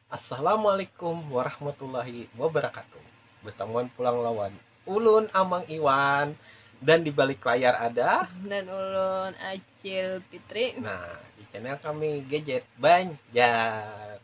Assalamualaikum warahmatullahi wabarakatuh Betamuan pulang lawan ulun Amang Iwan Dan di balik layar ada Dan ulun Acil Fitri Nah di channel kami Gadget Banjar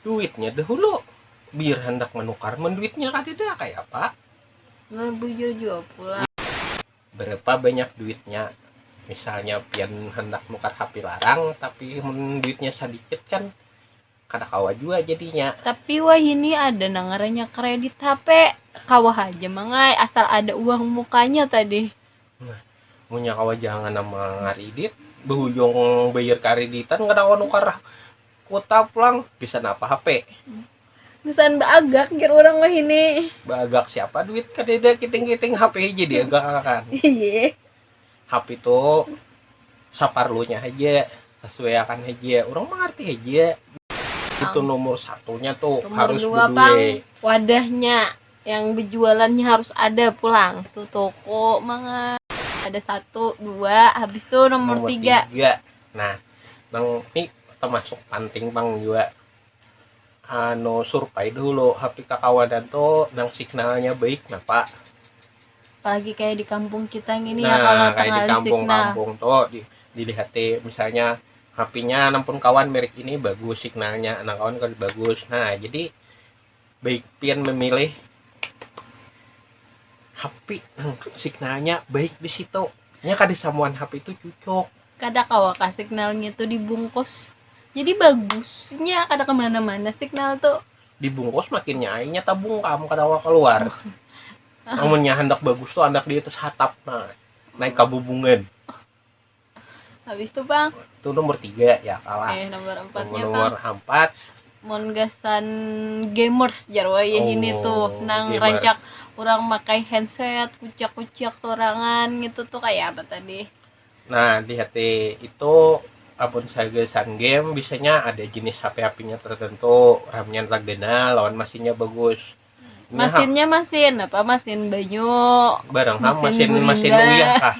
Duitnya dahulu, biar handak manukar mun duitnya kadada kayapa? Nah bujur jua pulang. Barapa banyak duitnya? Misalnya pian handak nukar hape larang tapi mun duitnya sadikit kan kada kawa jua jadinya. Tapi wahini ada nang ngarannya kredit hape, kawa haja mang ai asal ada uang mukanya tadi. Nah, munnya kawa jangan nang mangaridit, bahujung bayar kariditan kada kawa nukar. Kuta pulang bisa napa hape. Misaan baagak jar urang wahini. Baagak siapa duit kadada kiting-kiting hape haja diagak akan. Iye. Hape tu saparlunya haja, sasuaiakan haja. Urang mangarti haja. Itu nomor satunya tu Nomor harus dua bedue. pang wadahnya yang bejualannya harus ada pulang. Tu toko mangan. Ada satu, dua, habis tu nomor, Nomor tiga. tiga. nah nang ni termasuk panting pang jua anu survei dulu HP kakawanan tuh nang signalnya baik napa apalagi kayak di kampung kita gini nah, ya kalau kayak di kampung-kampung tuh di, dilihat misalnya HP-nya nampun kawan merek ini bagus signalnya anak kawan kan bagus nah jadi baik pian memilih HP signalnya baik di situ nya kada samuan HP itu cucuk kada kawa kah signalnya tuh dibungkus jadi bagusnya kada kemana-mana signal tuh dibungkus makinnya ainya tabungkam kada kawa keluar amunnya handak bagus tuh handak di atas hatap nah naik kabubungan habis itu bang itu nomor tiga ya kalah eh, nomor empatnya nomor, nomor bang empat mon gasan gamers jarwa ya oh, ini tuh nang gamers. rancak orang pakai handset kucak kucak sorangan gitu tuh kayak apa tadi nah di hati itu apun saya gasan game biasanya ada jenis HP HP-nya tertentu RAM-nya tergena lawan mesinnya bagus Masinnya masin apa? Masin banyu. Barang ham Masin masin gurinda. masin uyah kah?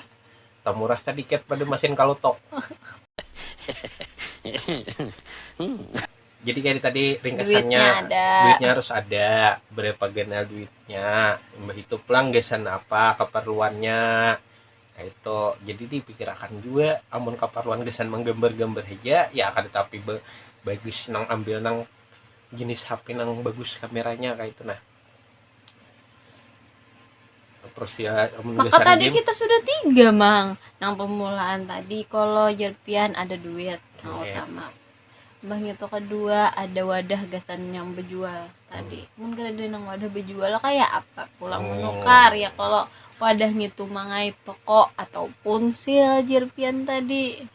Tamurah sadikat pada masin kalutok. Jadi kaya tadi ringkasannya Duitnya ada. duitnya harus ada berapa ganal duitnya imbah itu pulang gasan apa keperluannya kaitu jadi dipikirakan jua amun keperluan gasan manggambar-gambar haja ya kada tapi ba- bagus nang ambil nang jenis HP nang bagus kameranya kayak itu nah terus ya maka tadi game. kita sudah tiga mang nang pemulaan tadi kalau jerpian ada duit yang yeah. utama bang itu kedua ada wadah gasan yang berjual tadi hmm. mungkin ada nang wadah berjual kayak apa pulang oh. menukar ya kalau wadah ngitu mangai toko ataupun sil jerpian tadi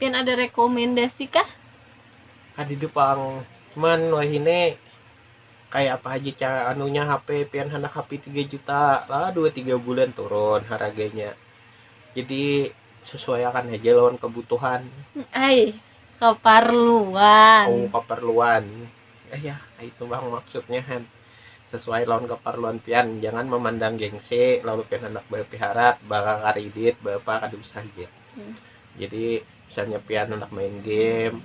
Pian ada rekomendasi kah? Kadida pang, cuman wahini kaya apa haja cara anunya HP pian handak HP tiga juta lah dua tiga bulan turun haraganya jadi sesuaiakan haja lawan kebutuhan Ai, keparluan. oh keperluan eh ya itu bang maksudnya han sesuai lawan keperluan pian jangan memandang gengsi lalu pian handak berpiharat bakal karidit berapa kada usah aja hmm. jadi misalnya pian anak main game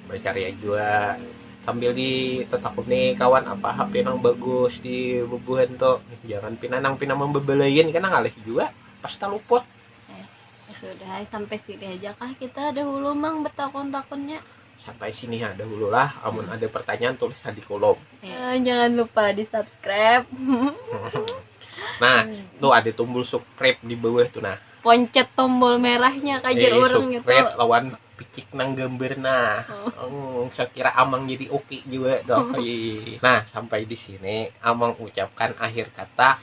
berkarya juga sambil ditetapuni kawan apa HP yang bagus di bubuhan tuh jangan pina nang pina membebelain karena ngalih juga pasti luput eh, ya sudah sampai sini aja kah kita dahulu mang bertakun-takunnya Sampai sini ha dahulu lah. Amun hmm. ada pertanyaan tulis ha di kolom. Ya, jangan lupa di subscribe. nah, hmm. tuh ada tombol subscribe di bawah tuh nah. Poncet tombol merahnya kajar eh, orang gitu. Subscribe lawan picik nang gambar nah. Oh. Hmm, saya kira Amang jadi oke okay juga dong. nah, sampai di sini Amang ucapkan akhir kata.